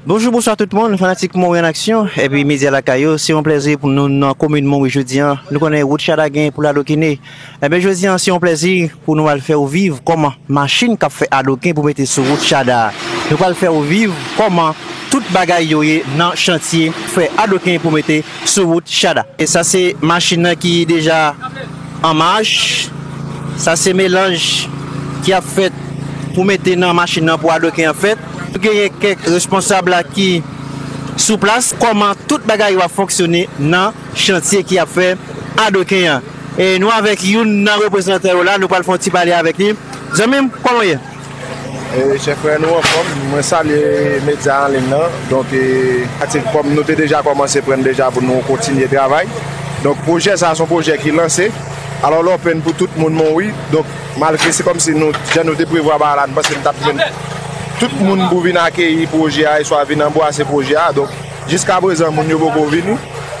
Bonjou bonswa tout moun fanatik Monwi an aksyon epi medya lakay yo se yon plèzi pou nou nan komin Monwi jodi an nou konnen wout chada gen pou l adokine enben jodi an se yon plèzi pou nou al fè ou viv kòman machin k ap fè adoken pou mete sou wout chada a nou pral fè ou viv kòman tout bagay yo ye nan chantye fè adoken pou mete sou wout chada e sa se machin nan ki deja an mach sa se melanj ki ap fèt pou mete nan machin nan pou adoken an fèt. Genyen kèk responsab la ki sou plas, kòman tout bagay yo ap fonksyone nan chantye ki ap fè Adoken an. E nou avèk youn nan reprezantan yo la, nou pral fè yon ti pale avèk li. Zanmi m, kòman w ye? Chè frè, nou anfòm. Mwen salye medya an liy lan. Donk, atik kòm nou te deja kòmanse pran deja pou nou kontinye travay. Donk, pwojè sa a se yon pwojè ki lanse. Alò, lè w open pou tout moun, men w wi. Donk. Malgre se kòm si nou, jan nou te prevwa bagay la, nou panse nou t ap jwenn tout moun pou vin akeyi pwojè a eswa vin anbwase pwojè a. Donk, jiskaprezan moun yo poko vini.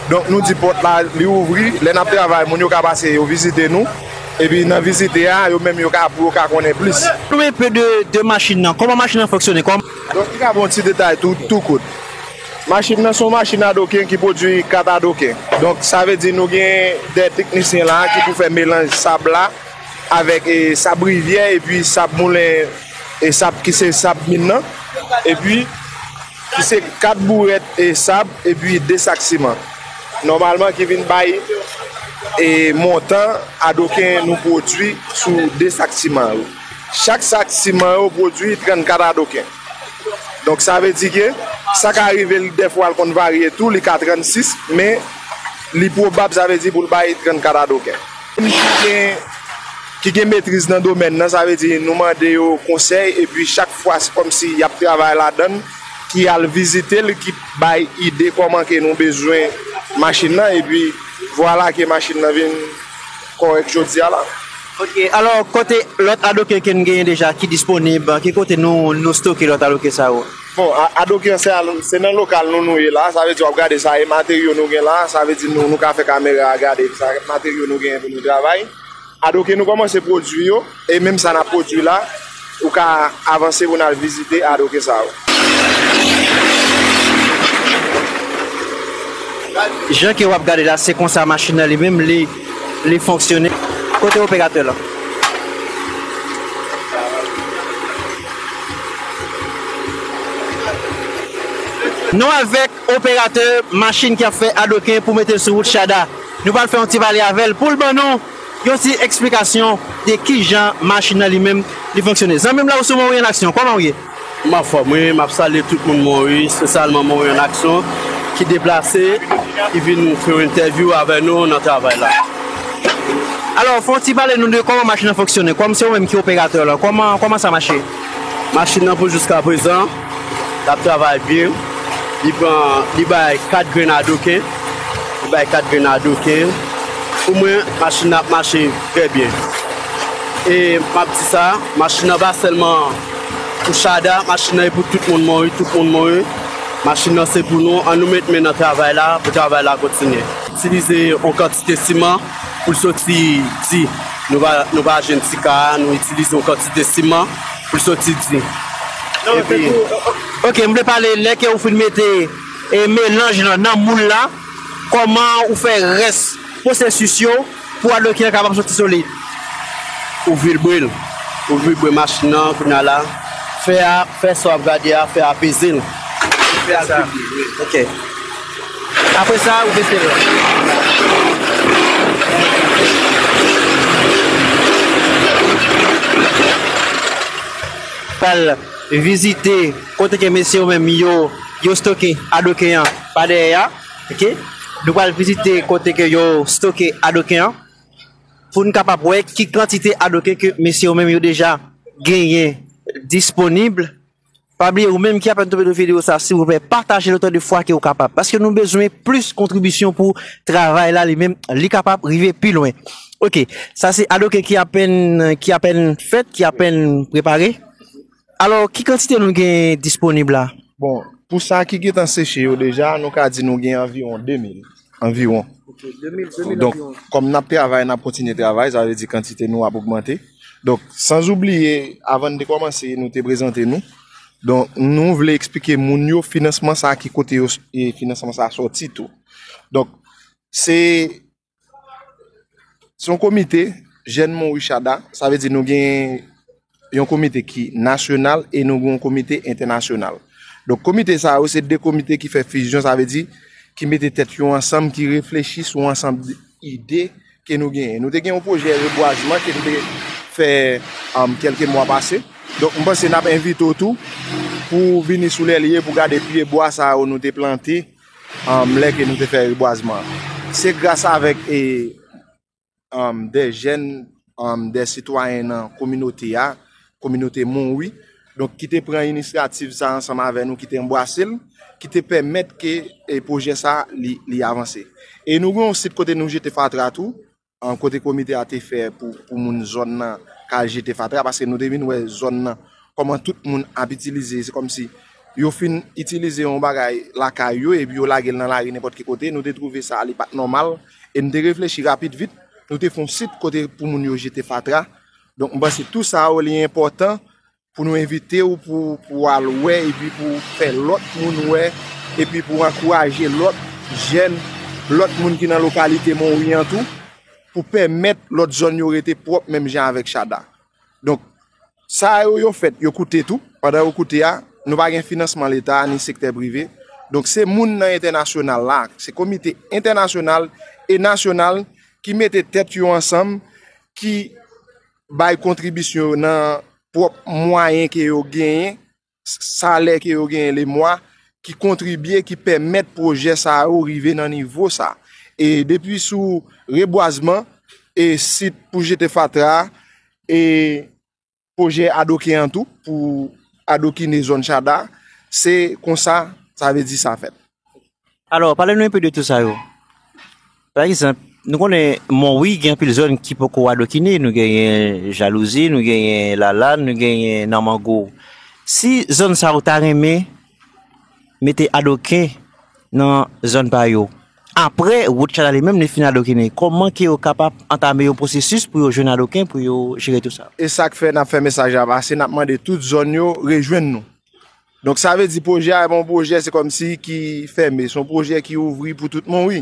Donk, nou di pòt la, li ouvri. Lè n ap travay, moun yo ka pase yo vizite nou. Epi nan vizite a, yo menm yo ka pou yo ka konnen plis. Pale nou enpe de machin nan. Kòman machin nan fonksyone? Donk, li ka ba w yon ti detay tou, tou kout. Machin nan se yon machin adoken ki pwodui kat adoken. Donk, sa vle di nou gen de teknisyen la ki pou fè melanj sab la. avèk sab rivyè epi sab moulen e sab ki se sab min nan epi ki se 4 bourèt sab epi 2 sak siman nòmalman ki vin bay e montan adoken nou pwodui sou 2 sak siman yo chak sak siman yo pwodui 34 adoken donk sa vle di ke sa ka rive l dèfwa l konn varye tou li ka 36 men li pwobab sa vle di pou l bay 34 adoken. ki gen metriz nan domèn nan, sa vle di nou mande yo konsèy epi chak fwa se kòm si y ap travay ladan l, ki al vizite l, ki bay ide kòman ke nou bezwen machin nan epi vwala ke machin nan vin kòrèk jodi a la. Ok, alò kote lòt adoken ke n genyen deja ki disponib, ki kote nou stoke lòt adoken sa yo? Bon adoki an se nan lokal nou nou ye la sa vle di wap gade sa e materyo nou gen la sa vle di nou ka fè kamera a gade sa materyo nou gen pou nou travay adoki nou komanse pwodwi yo e menm sa nap pwodwi la ou ka avanse pou nan vizite adoki sa yo. Jan ke wap gade la se konsa machin nan li menm li. Li fonksyone. Kote operatè la? Nou avèk operatè machin ki ap fè adoken pou mete l sou wout Shada. Nou pral fè yon ti pale avè l pou l ban nou yon ti eksplikasyon de kijan machin nan li menm li fonksyone. Zanmi m la ou sou mwen wi an aksyon. Kòman ou ye? M anfòm wi, m ap salye tout moun mwen wi, espesyalman moun an aksyon ki deplase, ki vin fè yon entèvyou avè nou nan travay la. Alò, fè yon ti pale nou de kòman machin an fonksyone, kòm se ou menm ki operatè lan, kòman, kòman sa mache? Machin nan pou jiska prezan, l ap travay byen, li pran, li bay 4 grenn a doken, li bay 4 grenn a doken, pou mwen, machin nan ap mache trè byen. E m ap di sa, machin nan pa sèlman. Pou Shada machin nan e pou tout moun mouri tout moun mouri machin nan se pou nou an nou met men nan travay la pou travay la kontinye. Itilize yon kantite siman poul soti di nou pa jwenn ti ka a nou itilize yon kantite siman poul soti di epi. Ok m vle pale lè ke ou fin mete melanj lan nan moul la kòman ou fè rès pwosesis yo. Pou a dlo ki nan kay pa soti sou li. Ou vilbre l. Ou vilbre machin nan kounye a la. Fè a, fè sa w ap gade a, fè a peze l. Pou fè a vilbre. Ok. Apre sa, ou bese l. Pral vizite kote ke mesye yo menm yo stoke a dlo ke an pa dèyè a. ok nou pral vizite kote ke yo stoke adoken an pou nou kapab wè ki kantite adoken ke mesye yo menm yo deja genyen disponib pa bliye ou menm ki apèn tonbe nan video sa silvouplè patajel otan de fwa ke ou kapab paske nou bezwen plis kontribisyon pou travay la li menm li kapab rive pi lwen ok sa se adoken ki apèn ki apèn fèt ki apèn prepare. Alò, ki kantite nou gen disponib la? Bon, pou sa ki gen tan seche yo deja, nou ka di nou gen anviwon 2 mil. Anviwon. Ok, 2 mil, 2 mil anviwon. Donk, kòm n ap travay, n ap kontinye travay, sa vle di kantite nou ap ogmante. Donk, san zoubliye, avan n te kòmanse, nou te prezante nou. Donk, nou vle eksplike moun yo finansman sa ki kote yo, finansman sa sòti tou. Donk, se Se yon komite jèn Monricharda, sa vle di nou gen yon komite ki nasyonal e nou gen yon komite entènasyonal. Donk komite sa yo se de komite ki fè fizyon, sa vle di ki mete tèt yo ansanm, ki reflechi sou ansanm ide ke nou genyen. Nou te gen yon pwojè rebwazman ke nou te fè an kelke mwa pase. Donk mwen panse n ap envite w tou pou vini sou lè li ye pou gade pyebwa sa yo nou te plante lè ke nou te fè rebwazman an. Se gras avèk e de jèn de sitwayen nan kominote a, kominote Monwi, donk ki te pran inisyativ sa ansanm avè nou, ki te anbwase l, ki te pèmèt ke pwojè sa li avanse. E nou gen yon sit kote nou jete fatra tou, kote komite a te fè pou moun zòn nan ka al jete fatra paske nou te vin wè zòn nan kòman tout moun ap itilize se kòmsi yo fin itilize yon bagay lakay yo epi yo lage l nan lari nenpòt ki kote nou te twouve sa li pat nòmal e nou te reflechi rapit vit nou te fon sit kote pou moun yo jete fatra donk mwen panse tou sa yo li enpòtan Pou nou envite ou pou ou al wè epi pou ou fè lòt moun wè epi pou ou ankouraje lòt jèn, lòt moun ki nan lokalite Monwi an tou pou pèmèt lòt zòn yo rete pwòp menm jan avèk Chada. Donk, sa yo, yo fèt, yo koute tou. Pandan yo koute a, nou pa gen finansman leta ni sektè prive. Donk, se moun nan entènasyonal la, se komite entènasyonal e nasyonal ki mete tèt yo ansanm, ki. bay kontribisyon yo nan pwòp mwayen ke yo genyen, salè ke yo genyen le mwa, ki kontribye, ki pèmèt pwojè sa yo rive nan nivo sa. E depi sou rebwazman, e sit pou jete fatra, e pwojè adoken an tou, pou adokine zòn chada, se konsa, sa ve di sa fèt. Alò, pale nou enpe de tout sa yo. Pa egzanp, nou konnen Monwi gen anpil zòn ki poko adokine, nou genyen Jalouzi, nou genyen Lalann, nou genyen Nanmango. Si zòn sa yo ta renmen mete adoken nan zòn pa yo, apre wout chanal li menm li fin adokine, kòman ke yo kapab antame yon pwosesis pou yo jwenn adoken pou yo jere tout sa? E sa k fè n ap fè mesaj la pase, n ap mande tout zòn yo rejwenn nou. Donk sa vle di pwojè a e pa yon pwojè se kòm si ki fème, se yon pwojè ki ouvri pou tout moun wi.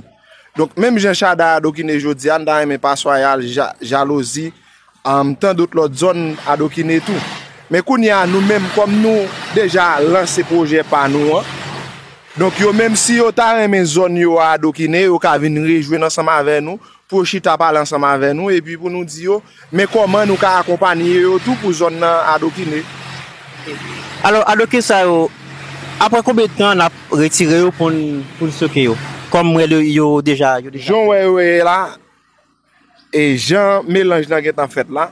Donk menm jan Shada adokine jodi a m ta renmen Paswaya, Jalouzi, tan dot lòt zòn adokine tou. Men kounye a nou menm kòm nou deja lanse pwojè pa nou an, donk yo menm si yo ta renmen zòn yo a adokine yo ka vin rejwenn ansanm avè nou pou yo chita pale ansanm avè nou epi pou nou di yo men kòman nou ka akonpanye yo tou pou zòn nan adokine. Alò adoke sa yo aprè konbyen tan n ap retire yo pou n stoke yo kòm rèl yo yo deja yo deja. Jan w wè yo ye la e jan melanj nan gen tan fèt la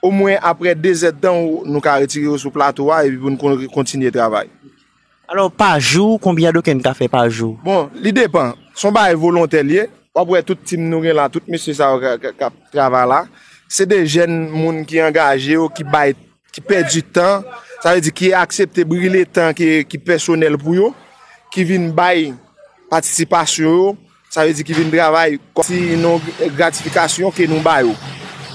omwen aprè dezèdtan nou ka retire yo sou plato a epi pou n kontinye travay. Alò pa jou konbyen Adoken ka fè pa jou? Bon li depan, son bagay volontè liye, wap wè tout team nou gen la, tout mesye sa yo kap travay la, se de jèn moun ki angaje yo, ki bay, ki pèdi tan, sa vle di ki aksepte brile tan ki pèsonèl pou yo, ki vin bay patisipasyon yo Sa vle di ki vin travay kòm si yon gratifikasyon ke nou ba yo.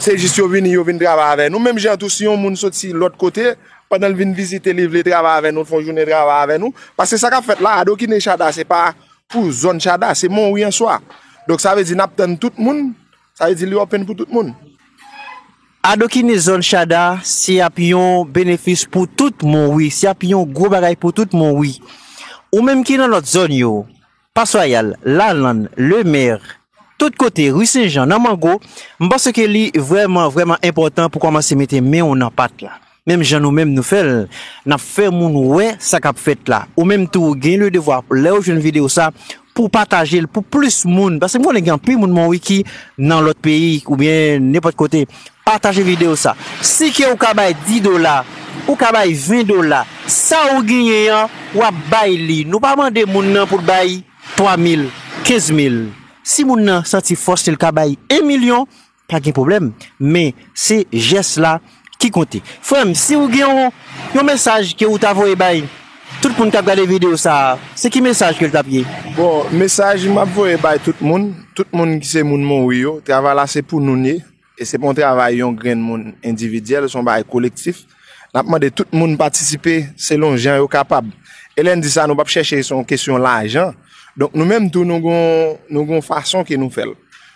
Se jis yo vini, yo vin travay avè nou. Menm jan tou si yon moun soti lòt kote, pandan l vin vizite li vle travay avè nou, fè yon jounen travay avè nou. Paske sa k ap fèt la, adokine Chada se pa pou zòn Chada, se Monwi an swa. Donk sa vle di n ap tann tout moun, sa vle di li open pou tout moun. Adokine zòn Chada se ap yon benefis pou tout Monwi, se ap yon gwo bagay pou tout Monwi. Ou menm ki nan lòt zòn yo, Pas Royal, Lalann, Le Mer, tout kote, Rue Sen Jan, nan Mango, m panse ke li vrèman, vrèman enpòtan pou kòmanse mete men w nan pat la. Menm jan nou menm nou fè l, n ap fè moun wè sa k ap fèt la. Ou menm tou ou gen le devwa lè ou jwenn videyo sa pou w pataje l pou plis moun. Paske m konnen gen anpil moun Monwiki nan lòt peyi oubyen nenpòt kote. Pataje video sa. Si ke ou ka bay 10 dola, ou ka bay 20 dola, sa ou genyen an wap bay li. Nou pa mande moun nan pou l bay 3 mil, 15 mil. Si moun nan santi fòs li l ka bay 1 milyon, pa gen pwoblèm. Men, se jès la ki konte. Frè m, si ou gen yon mesaj ke ou ta voye bay. Tout moun kap gade video sa a se ki mesaj ke l tap ye? Bon mesaj map voye bay tout moun, tout moun ki se moun monwi yo, travay la se pou noun ye, e se pa yon travay yon grenn moun endividyèl, son bagay kolektif, nap mande tout moun patisipe selon jan yo kapab, e lè n di sa nou pap chèche se yon kesyon lajan, donk nou menm tou nou gon nou gon fason ke nou fèl,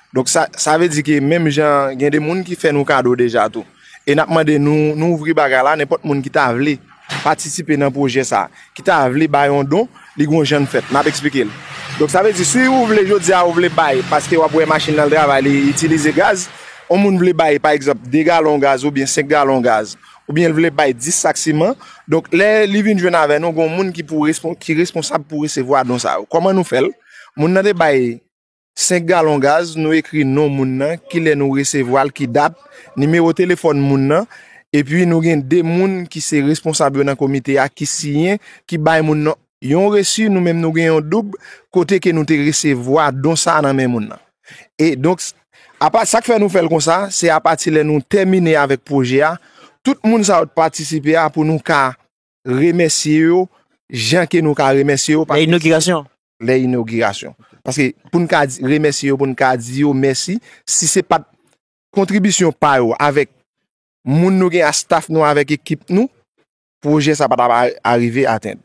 donk sa sa vle di ke menm jan gen de moun ki fè nou kado deja tou. e nap mande nou nou ouvri bagay la nenpòt moun ki ta vle patisipe nan pwojè sa ki ta vle bay yon don li gon jann fèt map eksplike l donk sa vle di si ou vle jodi a ou vle bay paske wap wè machin nan travay li itilize gaz yon moun vle bay pa egzanp 2 galon gaz oubyen 5 galon gaz oubyen l vle bay 10 sak siman donk lè li vin jwenn avè nou gon moun ki pou ki responsab pou resevwa don sa yo kòman nou fèl moun nan te bay. 5 galon gaz, nou ekri non moun nan, kilè nou resevwa l, ki dat, nimewo telefòn moun nan, epi nou gen 2 moun ki se responsab yo nan komite a ki siyen, ki bay moun nan yon resi, nou menm nou gen yon doub kote ke nou te resevwa don sa a nan men moun nan. E donk, apa, sa k fè nou fè l konsa, se apati lè nou tèmine avèk pwojè a, tout moun sa yo t patisipe a pou nou ka remèsye yo jan ke nou ka remèsye yo. Lè inogirasyon? Lè inogirasyon. Paske pou n ka remèsye yo, pou n ka di yo mèsi, si se pat kontribisyon pa yo avèk moun nou gen a staff nou avèk ekip nou, pwojè sa pa ta va arive atenn.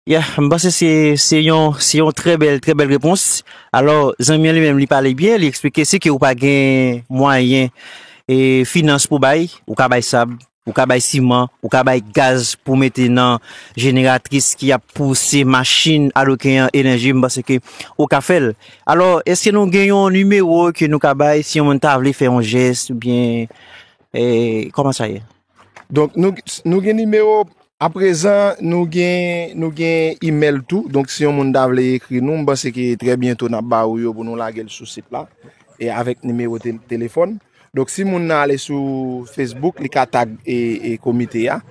Ya, m panse se yon trè bèl, trè bèl repons. Alò, zanmi an li menm li pale byen, li eksplike si ke ou pa gen mwayen, finans pou bay, ou ka bay sab, Ou ka bay siman, ou ka bay gaz pou mete nan jeneratris ki ap pouse machin aloke an enèji, m panse ke ou ka fè l. Alò, èske nou gen yon nimewo ke nou ka bay si yon moun ta vle fè yon jès oubyen kòman sa ye? Donk, nou gen nimewo, aprezan nou gen nou gen imèl tou, donk si yon moun ta vle ekri nou, m panse ke trè byento n ap ba ou yo pou nou lage l sou sit la e avèk nimewo telefòn nou. Donk si moun nan ale sou Facebook li ka tag komite a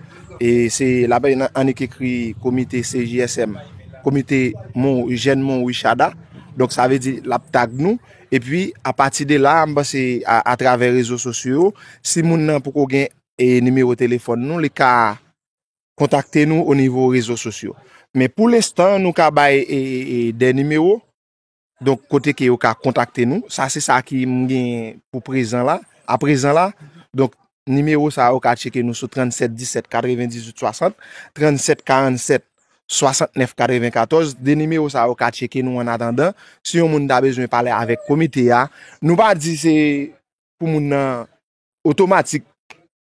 e se la bay nan annik ekri komite CJSM komite moun jèn moun Wishada donk sa vle di lap tag nou e pi a pati de la m panse a travè rezo sosyo si moun nan poko gen e nimewo telefòn nou li ka kontakte nou o nivo rezo sosyo men pou lestan nou ka bay e de nimewo Donk kote ke yo ka kontakte nou. Sa se sa ki m gen pou prezan la, a prezan la. Donk nimewo sa yo ka tcheke nou sou 37 17 98 60, 37 47 69 94. De nimewo sa yo ka tcheke nou an atandan. Si yon moun ta bezwen pale avèk komite a, nou pa di se pou moun nan. otomatik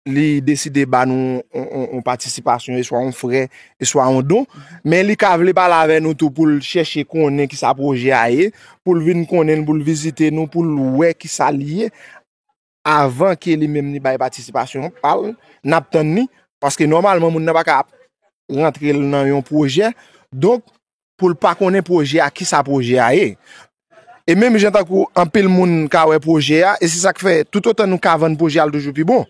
li deside ba nou yon patisipasyon, e swa yon frè, e swa yon don, men li ka vle pale avè nou tou pou l chèche konnen ki sa pwojè a ye, pou l vin konnen, pou l vizite nou, pou l wè ki sa li ye, avan ke li menm li bay patisipasyon pa l, n ap tann ni, paske nòmalman moun nan pa ka ap rantre l nan yon pwojè, donk, pou l pa konnen pwojè a, kisa pwojè a ye. E menm jan tankou anpil moun ka wè pwojè a, e se sa k fè toutotan nou ka vann pwojè a l toujou pi bon.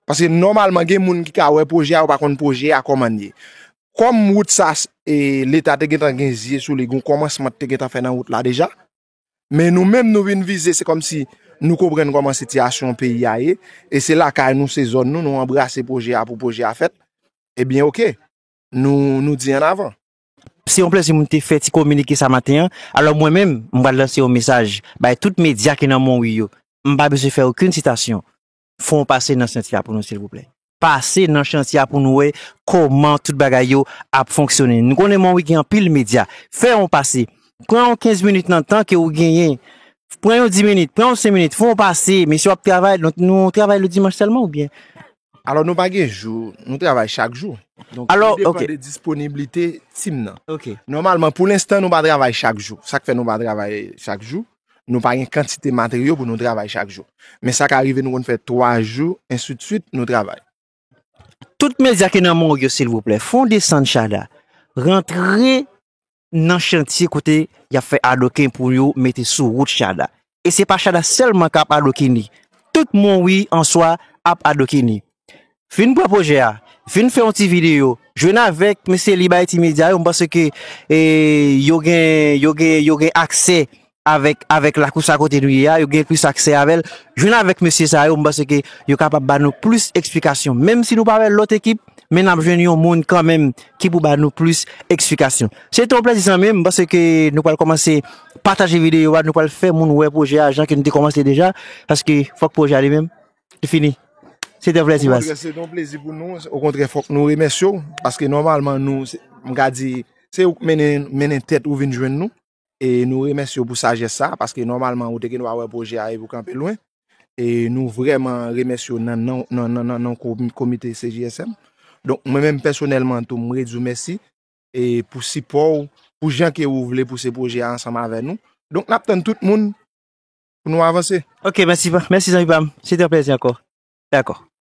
Paske nòmalman gen moun ki ka wè pwojè a, yo pa konn pwojè a kòman l ye. Kòm wout sa e leta te gentan gen zye sou li, gen yon kòmansman ki te gentan fè nan wout la deja. Men nou menm nou vin vize, se kòm si nou konprann kòman sitiyasyon peyi a ye, e se lakay nou, se zòn nou, nou anbrase pwojè a pou pwojè a fèt, ebyen ok, nou di annavan. Se yon plezi pou m te fè ti kominike sa maten an. Alò mwen menm, m pral lanse yon mesaj bay tout medya ki nan Monwi yo. M pa bezwen fè okenn sitasyon. Fò w pase nan chantye a pou nou silvouplè. Pase nan chantye a pou nou wè kòman tout bagay yo ap fonksyone. Nou konnen Monwi gen anpil medya. Fè yon pase. Pran yon kenz minit nan tan ke ou genyen. Pran yon di minit, pran yon sen minit. Fò w pase. Mesye w ap travay. Nou travay ledimanch sèlman oubyen? Alò nou pa gen jou, nou travay chak jou. Donk li depan de disponiblite team nan. Nòmalman pou lenstan nou pa travay chak jou. Sa k fè nou pa travay chak jou, nou pa gen kantite materyo pou nou travay chak jou. Men sa ka rive nou konn fè 3 jou ensidswit nou travay. Tout medya ki nan mòg yo silvouplè fon desann chada rantre nan chantye kote y ap fè adoken pou yo mete sou wout chada. E se pa chada sèlman k ap adoken li, tout Monwi an swa ap adoken li. Vin pran pwojè a, vin fè yon ti videyo, jwenn avèk mesye Libayiti Medya yo, m panse ke yo gen aksè avèk avèk lakou sa kote nou ye a yo gen plis aksè avèl jwenn avèk mesye sa yo m panse ke yo kapab ba nou plis eksplikasyon menm si nou pa wè lòt ekip men n ap jwenn yon moun kanmenm ki pou ba nou plis eksplikasyon se te yon plezi zanmi m panse ke nou pral kòmanse pataje videyo a nou pral fè moun wè pwojè a jan ke nou te kòmanse deja paske fòk pwojè a li menm li fini se te yon plezi baz. Okontrè se te yon plezi pou nou okontrè fòk nou remèsye w paske nòmalman nou m ka di se ou k mennen mennen tèt ou vin jwenn nou E nou remèsye w pou sajès sa a, paske nòmalman ou te gen dwa wè pwojè a epi w kanpe lwen. E nou vrèman remèsye w nan non komite CJSM. Donk mwen menm pèsonèlman tou m redi w mèsi e pou sipò w, pou jan ke ou vle pouse pwojè a ansanm avè nou. Donk n ap tann tout moun pou nou avanse. Ok, mèsi zanmi pa m. Se te yon plèzi ankò. Dakò.